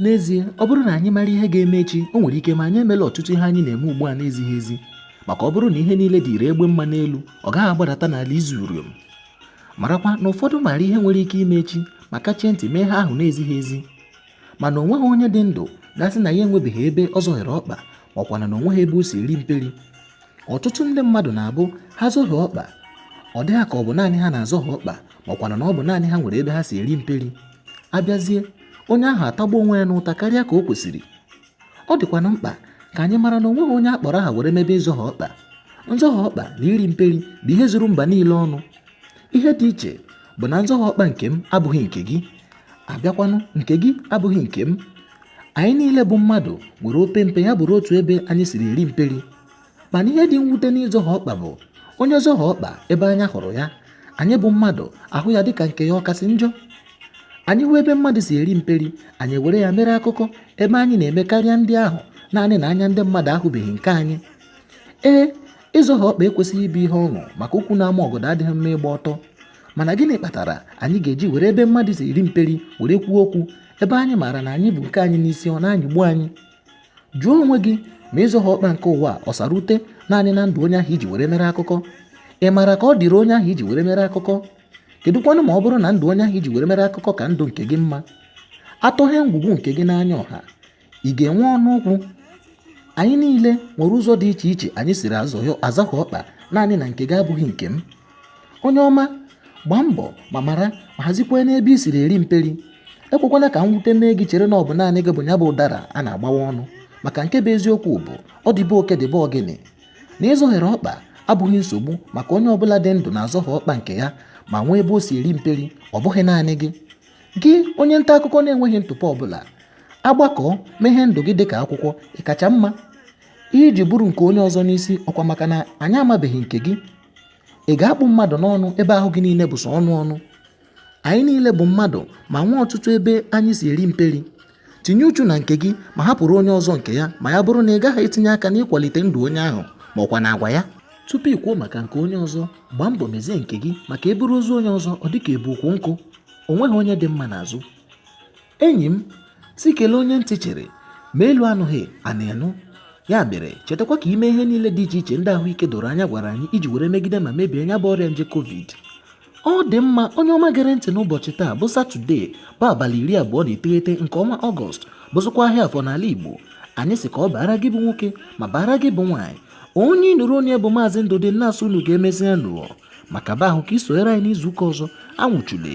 n'ezie ọ bụrụ na anyị mara ihe ga-eme echi o nwere ike ma anyị emela ọtụtụ ihe anyị na-eme ugbu a na-ezighị ezi maka ọ bụrụ na ihe niile dịrị egbe mma n'elu ọ gaghị agbadata n'ala izu uriom marakwa na ụfọdụ maara ihe nwere ike ime echi ma kachie ntị mee ihe ahụ na-ezighị ezi mana o nweghị onye dị ndụ ga-asị na ya enwebeghị ebe ọ zọhiere ọkpa ma ọkwanụ na o nweghị ebe o si eri mperi ọtụtụ ndị mmadụ na-abụ ha zọhie ọkpa ọ dị ha ka ọ bụ naanị ha na-azọhie ọkpa makwanụ na ọ bụ naanị ha nwere ebe ha si eri mperi abịazie onye ahụ atagbu onwe ya n'ụta karịa ka o kwesịrị ọ dịkwanụ mkpa ka anyị mara na o nweghị onye a kpọrọ aha were mebe nzọhie ọkpa nzọhie ọkpa na iri mperi bụ ihe zuru mba niile ọnụ ihe dị iche bụ na nzọhie ọkpa nke m abụghị nke gị abịakwanụ nke gị abụghị nke m anyị niile bụ mmadụ nwere opempe ya bụrụ otu ebe anyị siri eri mperi mana ihe dị mwute n'ịzọhie ọkpa bụ onye zọhie ọkpa ebe anya hụrụ ya anyị bụ mmadụ ahụ ya dịka nke ya ọ kasị njọ anyị hụ ebe mmadụ si eri mperi anyị were ya mere akụkọ ebe anyị na-eme karịa ndị ahụ naanị na anya ndị mmadụ ahụbeghị nke anyị ee ịzọhie ọkpa ekwesịghị ịbụ ihe ọṅụ maka ukwu na-ama ọgọdọ adịghị mma ịgba ọtọ mana gịnị kpatara anyị ga-eji were ebe mmadụ si eri mperi were kwuo okwu ebe anyị maara na anyị bu nke anyị n'isi ọ na-anyịgbu anyị jụọ onwe gị ma ịzọhie ọkpa nke ụwa ọ sara ute naanị na ndụ onye ahụ i ji were mere akụkọ ị maara ka ọ dịrị onye ahụ i ji were mere akụkọ kedụkwanụ ma ọ bụrụ na ndụ onye ahụ i ji were mere akụkọ ka ndụ nke gị mma a tọghee ngwugwu nke gị n'anya ọha ị ga-enwe ọnụ okwu anyị niile nwere ụzọ dị iche iche anyị siri azọhie ọkpa naanị na nke gị abụghị nke m onye ọma gbaa mbọ ma mara ma hazikwanụ ebe i siri eri mperi ekwekwana ka mwute mee gị chere na ọ bụ naanị gị bụ ya bụ ụdara a na-agbawa ọnụ maka nke bụ eziokwu bụ ọ dị be oke dị be ọgịnị na ị zọhiere ọkpa abụghị nsogbu maka onye ọbụla dị ndụ na-azọhie ọkpa nke ya ma nwee ebe o si eri mperi ọ bụghị naanị gị Gị onye nta akụkọ na-enweghị ntụpọ ọbụla, a gbakọọ meghee ndụ gị dịka akwụkwọ, ị kacha mma. Ihe i ji buru nke onye ọzọ n'isi ọkwa maka na anyị amabeghị nke gị. Ị ga-akpụ mmadụ n'ọnụ ebe ahụ gị niile bụ sọ ọnụ ọnụ. Anyị niile bụ mmadụ ma nwee ọtụtụ ebe anyị si eri mperi. tinye uchu na nke gị ma hapụrụ onye ọzọ nke ya ma ya bụrụ na ị gaghị etinye aka n'ịkwalite ndụ onye ahụ ma ọkwanụ agwa ya tupu ị kwuo maka nke onye ọzọ gbaa mbọ mezie nke gị maka e buru ozu onye ọzọ ọ dịka e bu ukwu nkụ o nweghị onye dị mma n'azụ enyi m sị kelee onye ntị chiri ma elu anụghị ana anụ ya mere chetakwa ka i mee ihe niile dị iche iche ndị ahụike doro anya gwara anyị iji were megide ma mebie nya bụ ọrịa nje covid ọ dị mma onye ọma gere ntị n'ụbọchị taa bụ satọde bụ abalị iri abụọ na iteghete nke ọnwa ọgọst bụzịkwa ahịa afọ n'ala igbo anyị sị ka ọ baara gị bụ nwoke ma baara gị bụ nwaanyị onye ị nụrụ olu ya bụ maazị ndụdị na-asị unu ka emesịanụ maka be ahụ ka ị sonyere anyị n'izu ụka ọzọ anwụchule